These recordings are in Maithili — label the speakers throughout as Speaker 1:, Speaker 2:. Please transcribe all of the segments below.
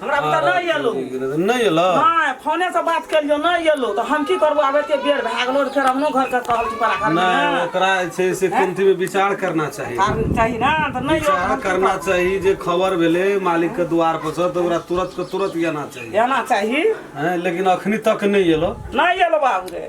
Speaker 1: हमरा बुते नहि एलौ नहि एलौ नहि फोने से बात केलियो नहि एलौ तऽ हम की करबो आब एते बेर भए गेलो फेर हमनो घर के कहल छी परा घर नहि ओकरा छै से कुंती में विचार करना चाहिए चाही ना तऽ नहि विचार करना चाहिए जे खबर भेले मालिक के द्वार पर से तऽ ओकरा तुरंत के तुरंत एना चाहिए एना चाहिए लेकिन अखनी तक नहि एलौ नहि एलौ बाबू रे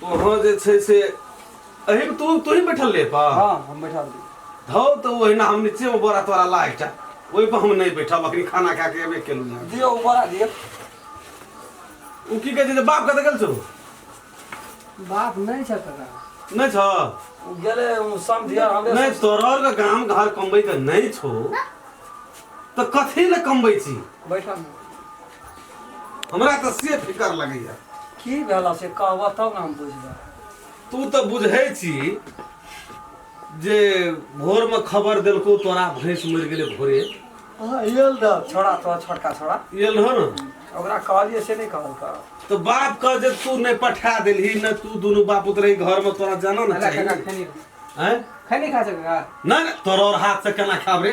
Speaker 1: तोहर जे छै से एही में तू तू ही बैठल ले पा हाँ हम बैठा दी धौ तो ओहिना हम नीचे में बड़ा तोरा ला एकटा ओहि पर हम नहीं बैठब अखनी खाना खा के एबे केलू ना दियो ऊपर आ दियो उ की कहै छै जे बाप कतऽ गेल छौ बाप नहीं छे कका नहि छौ उ गेले उ समझिया हमरे नहि तोरर के गाम घर कमबै के नहि छौ तऽ कथी लए कमबै छी बैठा में हमरा तऽ से फिकर लगैया की भेला से कहबह तब ने हम बुझबै तू तऽ बुझै छी जे भोरमे खबर देलकौ तोरा भैंस मरि गेलै भोरे हाँ यल दा छोड़ा तो छोटका छोड़ा इयल हो ने ओकरा कहलिए से नहीं कहल कर तऽ बाप कह जे तू नहि पठा देलही ने तू दुनू बाप उतरे घरमे तोरा जाना ने चाही खैनी हैं खैनी खा सके का ना ना, तोरा और हाथ से केना खाब रे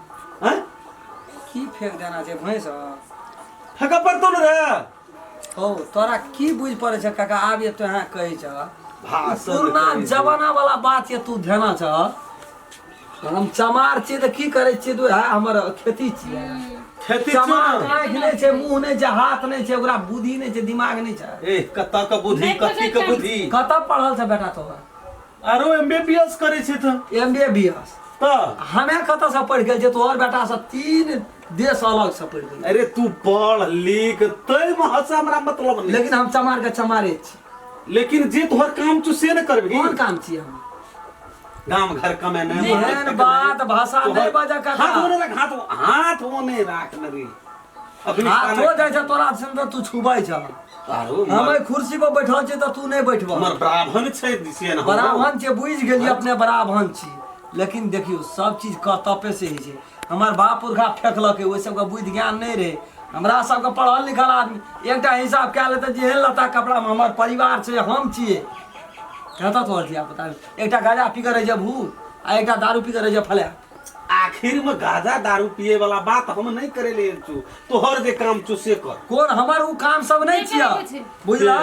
Speaker 1: हैं की फेंक देना छै भैंस फेंक पड़तो न रे ओ तोरा की बुझ पड़े छै काका आब ये तो यहाँ कहे छ भाषण पुरना करै छै। जमाना वाला बात ये तू ध्याना छ हम चमार छियै तऽ की करै छियै तू है हमर खेती छियै खेती छियौ चमार ने? आँखि नहि छै मुँह नहि छै हाथ नहि छै ओकरा बुद्धि नहि छै दिमाग नहि छै ए कतऽ के बुद्धि नहि कथी के पकड़तै। बुद्धि कतऽ पढ़ल छ बेटा तोहर आरो एम बी बी एस करै छै तऽ एम बी बी एस तऽ हमे कतऽसँ पढ़ि गेल जे तोहर बेटासँ तीन देश अलगसँ पढ़ि गेल अरे तू पढ़ लिख तय महसँ हमरा मतलब नहि लेकिन हम चमारके चमारे छी लेकिन जे तोहर काम छौ से ने करबही कोन काम छियै हम गाम घर कमे नहि एहन बात भाषा नहि बाजऽ कका। हाथ ओने राख हाथ हाथ ओने राख न रे हाथो जाइ छै तोरा से तऽ तू छुबै छ हम एहि कुर्सी पर बैठल छी तऽ तू नहि बैठब हमर ब्राह्मण छै से ने ब्राह्मण छै बुझि गेलियै अपने ब्राह्मण छी लेकिन देखियौ सब चीज कर्तव्य से होइ छै हमर बाप पुरखा फेंकलकै ओहि सबके बुद्धि ज्ञान नहि रहै हमरा सबके पढ़ल लिखल आदमी एकटा हिसाब कए लेतै जे एहन लत्ता कपड़ामे हमर परिवार छै हम छियै कतऽ तोहर धिया पुता एकटा गाजा पी कऽ रहै छै भूत आ एकटा दारू पी कऽ रहै छै फलैट आखिर में गाजा दारू पिए वाला बात हम नहीं करे ले छु तोहर जे काम छु से कर कोन हमर उ काम सब नहीं नहीं छिया करे छै। बुझला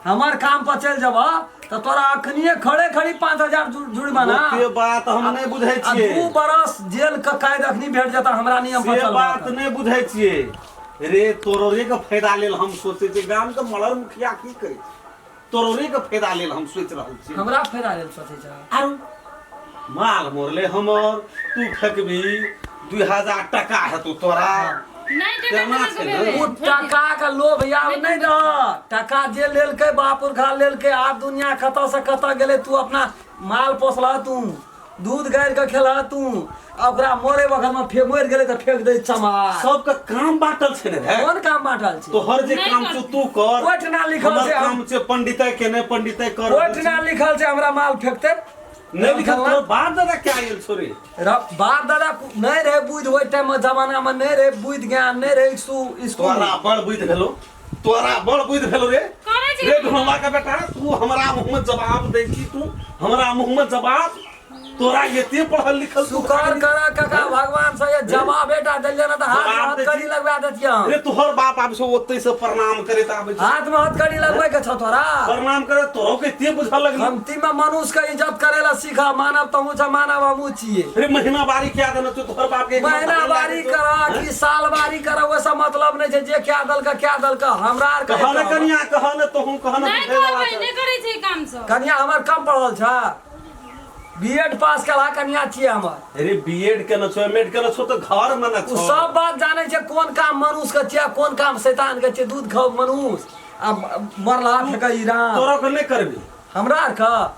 Speaker 1: हमर काम पर चल जबा त तोरा अखनिए खड़े खड़ी 5000 जु- जुर्माना ओते बात हम नहीं बुझे आ छिए दू बरस जेल के कैद अखनी भेट जाता हमरा नियम पर से चलबा बात त। नहीं बुझे छिए रे तोरो रे के फायदा लेल हम सोचे छिए गाम के मलर मुखिया की करे छै? तोरे के फायदा लेल हम सोच रहल छी हमरा फायदा लेल सोचे जा आरो माल मोरले हमर तू फेकबी दुई हजार टका हेतौ तोरा नहीं दे केना छै ने? ओ टका के लोभ याव नहीं न टका जे लेलकै बापुर खा लेलकै आब दुनिया कतऽ से कतऽ गेलै तू अपना माल पोसला तू दूध गाड़ि कऽ खेला तू आ ओकरा मरे वखत में फे मरि गेलै तऽ फेंक दै चमार सबके काम बांटल छै ने भाय कोन काम बांटल छै तोहर जे नहीं काम कर- छौ तू कर ओहिठिना लिखल हमर छै हम- काम छै पंडिते के ने पंडिते कर ओहिठिना लिखल छै हमरा माल फेंकतै नहीं लिखल तोहर बाप दादा क्या आयल छौ रे र- बाप दादा कु- नहि रहै बुद्धि ओहि टाइम मे जमाना मे नहि रहै बुद्धि ज्ञान नहि रहै स्कूल तोरा बड़ बुद्धि भेलो तोरा बड़ बुझ भेल रे करै छी रे घोमा के बेटा तू हमरा मुंह में जवाब दे छी तू हमरा मुंह में जवाब तोरा एते पढ़ल लिखल तू शुकर कर काका भगवान से ये जवाब बेटा दे लेना तो हाथ में जवाब दे हथकड़ी छी। लगवा देती हम रे तोहर बाप आब से ओते से प्रणाम करे त आबे छै। हाथ में हथकड़ी लगवे के छौ तोरा प्रणाम करे तोरो के एते बुझल लगल हम तीमा मनुष्य के इज्जत करेला खा मानव तमू छ मानव हमू छिए अरे महीना बारी क्या देना तू तोहर बाप के महीना बारी कर कि साल बारी कर वो सब मतलब नहीं छै जे क्या दल का क्या दल का हमरा आर कह न कनिया कह न तो हम कह न नहीं करबै नहीं करै छै काम सब कनिया हमर कम पढ़ल छ बीएड पास करा कनिया छिए हमर अरे बीएड के न छो एमएड के न छो तो घर में न छो सब बात जाने छै कोन काम मनुष्य के छिए कोन काम शैतान के छिए दूध खाओ मनुष्य आ मरला फेंकै राम तोरा के नहीं करबी हमरा आर का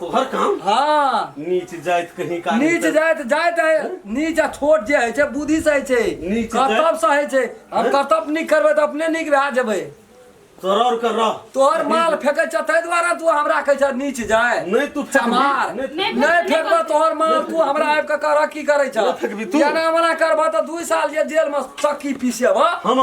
Speaker 1: तोहर काम हाँ नीच जाइत कहीं का नीच जाइत जाइत है नीच आ छोट जे है छै बुद्धि से है छै नीच जाइत- कर्तव्य से है छै हम हैं? कर्तव्य नीक करबै तऽ अपने नीक भए जेबै सरर कर रह तोहर माल फेकै छ ताहि दुआरे तू हमरा कहै छ नीच जाय नहीं तू फेंक चमार नहीं- नहीं नहीं फेकबह तोहर माल तू हमरा आबि कऽ करह की करै छ नहीं फेकबी तू। एना मना करबह तऽ दू साल जे जेलमे चक्की पीसेबह हम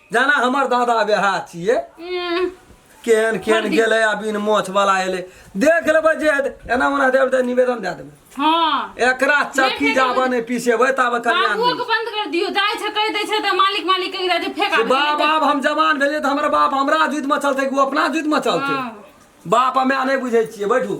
Speaker 1: जाना हमर दादा बेहा छिए हम्म, केहन केहन हरदी। गेलै आ बिन मोछ वाला एलै देख लेबै जे हेतै। एना ओना देब तऽ निवेदन दए देबै हाँ एकरा चक्की नहि जाबऽ नहि पिसेबै ताबे कल्याण बाबुओ नहि के बंद कर दियो जाय छै कह दे छै त मालिक मालिक कह दे छै फेंका से दे बाप छै। आब हम जवान भेलियै तऽ हमर बाप हमरा जुतिमे चलतै कि ओ अपना जुतिमे चलतै हाँ। बाप हमे नहि बुझै छियै बैठू